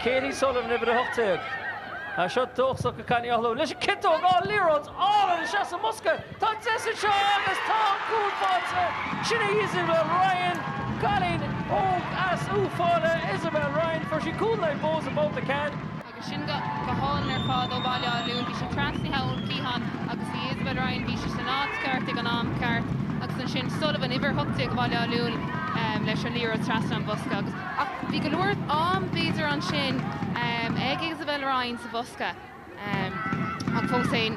Katie Sullivan, uimhir 18. Tá seo dóchasach ag Connie O'Halloran leis an ciotóg, á, liathróid álainn isteach sa mbosca. Tá deis anseo agus tá an cúl faighte. Sin í Isabel Ryan, cailín óg as Uíbh Fhailí. Isabel Ryan, fuair sí cúl in aghaidh Bohs i mbabhta ceannais. Agus sin go hálainn ar fad ó Bhaile Átha Luain, bhí sí trasnaithe ón cliathán agus í Isabel Ryan, bhí sí san áit ceart ag an am ceart. Agus ansin Sullivan, uimhir 18 Bhaile Átha Luain leis an liathróid trasna an bhosca. Agus. Ach bhí go leor am b'fhéidir ansin ag Isabel Ryan sa bhosca ach fós féin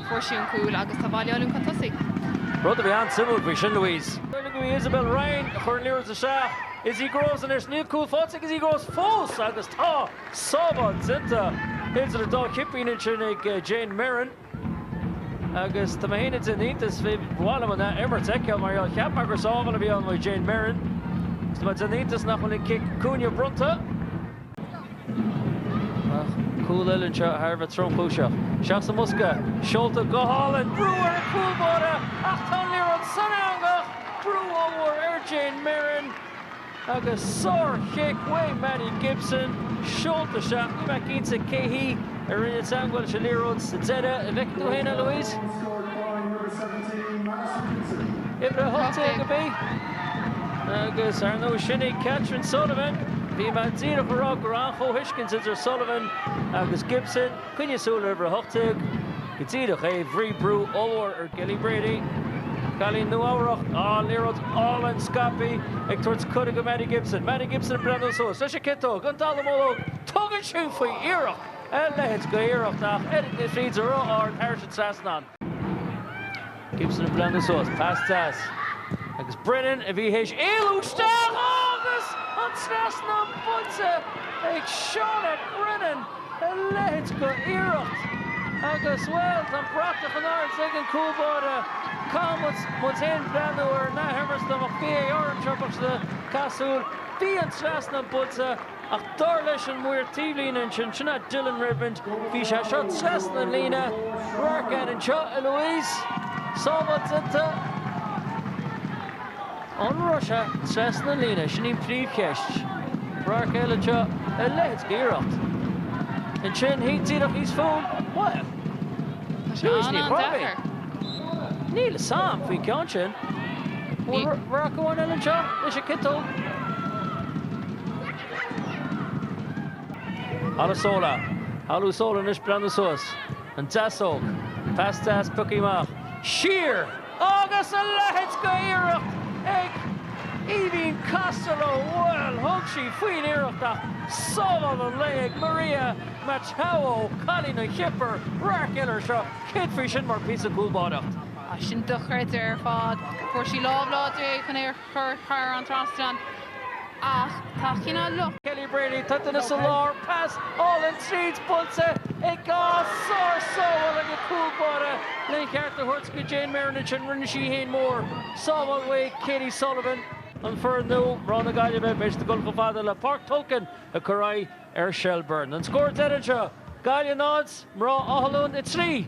fuair sí an cúl agus tá Baile Átha Luain chun tosaigh. Rud a bhí an-suimiúil faoi sin, Louise. B'fhéidir go bhí Isabel Ryan a chur an liathróid isteach Izzy Groves an iarracht. Níl cúl faighte ag Izzy Groves fós agus tá sábháil déanta idir an dá chipín ansin ag Jayne Merren. Agus tá mé féin ag déanamh iontas, bhí, ba mhaith liom an athimirt a fheiceáil mar gheall, cheap mé gur sábháil a bhí ann uaidh Jayne Merren, agus tá mé ag déanamh iontas nach bhfuil an cic cúinne bronnta. Ach cúl eile anseo thar a bheith tromchúiseach. Isteach sa mbosca, seolta go hálainn, brú ar an gcúl báire ach tá an liathróid san eangach! Brú ollmhór ar Jayne Merren. Agus sárchic uaidh Maddie Gibson, seolta isteach. Níl mé cinnte cé hí a rinne an teangmháil leis an liathróid sa deireadh. An bhfeiceann tú féin é, Louise? Uimhir a hocht déag ab í? Agus ar ndóigh sin í Katherine Sullivan. Bhí mé díreach ag rá go raibh an-chomhthuiscint idir Sullivan agus Gibson. Coinnigh súil ar uimhir a hocht déag go díreach, é, bhí brú ollmhór ar Kelly Brady, cailín Nua-Eabhrac. Á, liathróid álainn scaipthe ag tabhairt cuireadh do Maddie Gibson. Maddie Gibson ag breathnú suas leis an ciotóg, an dallamullóg. Tugann sí faoi iarracht, a leithéid de iarracht ach oiread na fríde ró-ard thairis an trasnán. Gibson ag breathnú suas. Pas deas. Agus Brennan a bhí théis éalú isteach agus an trasnán buailte ag Shauna Brennan. A leithéid d'iarracht. Agus, bhuel, tá an bratach in airde ag an gcúl báire. Caithfidh muid féin breathnú ar an athimirt dá mbeadh VAR anseo, bheadh sé ag teastáil. Bhí an trasnán buailte. Ach dar leis an maor taobhlíne ansin, sin é Dylan Redmond, bhí sé seo trasna an líne. Radharc air anseo, a Louise, sábháil déanta. An raibh sé trasna an líne? Sin í an phríomhcheist. Radharc eile anseo, a leithéid de iarracht. Ansin, thíos, díreach thíos fúm, bhuel, Tá sé an-deacair. Níl a fhios agam faoin gceann sin. Bhuel, radharc amháin eile anseo, leis an ciotóg. Olusola, Olusola anois breathnú suas, an deasóg, pas deas pioctha amach, siar! Agus a leithéid d'iarracht ag Aoibheann Costello, bhuel, thug sí faoin iarracht ach sábháil an lae ag Maria Matthaiou, cailín an Chipir, radharc eile ar seo, céard faoi sin mar píosa cúlbáireacht. Sin dochreidte ar fad. Fuair sí lámh láidir air chun é a. chur thar an trasnán, ach tá cineál lucht. Kelly Brady, tá duine sa lár, pas álainn tríd, buailte i gcás sár-sábháil ag a cúl báire lena cheart a thabhairt go Jayne Merren, rinne sí í fhéin mór sábháil uaidh Katie Sullivan, an foireann nua, mná na Gaillimhe, b'fhéidir dul chomh fada le Páirc Tolka ag cur aghaidh ar Shelbourne. An scór deiridh anseo, Gaillimh 0, Mná Átha Luain 3.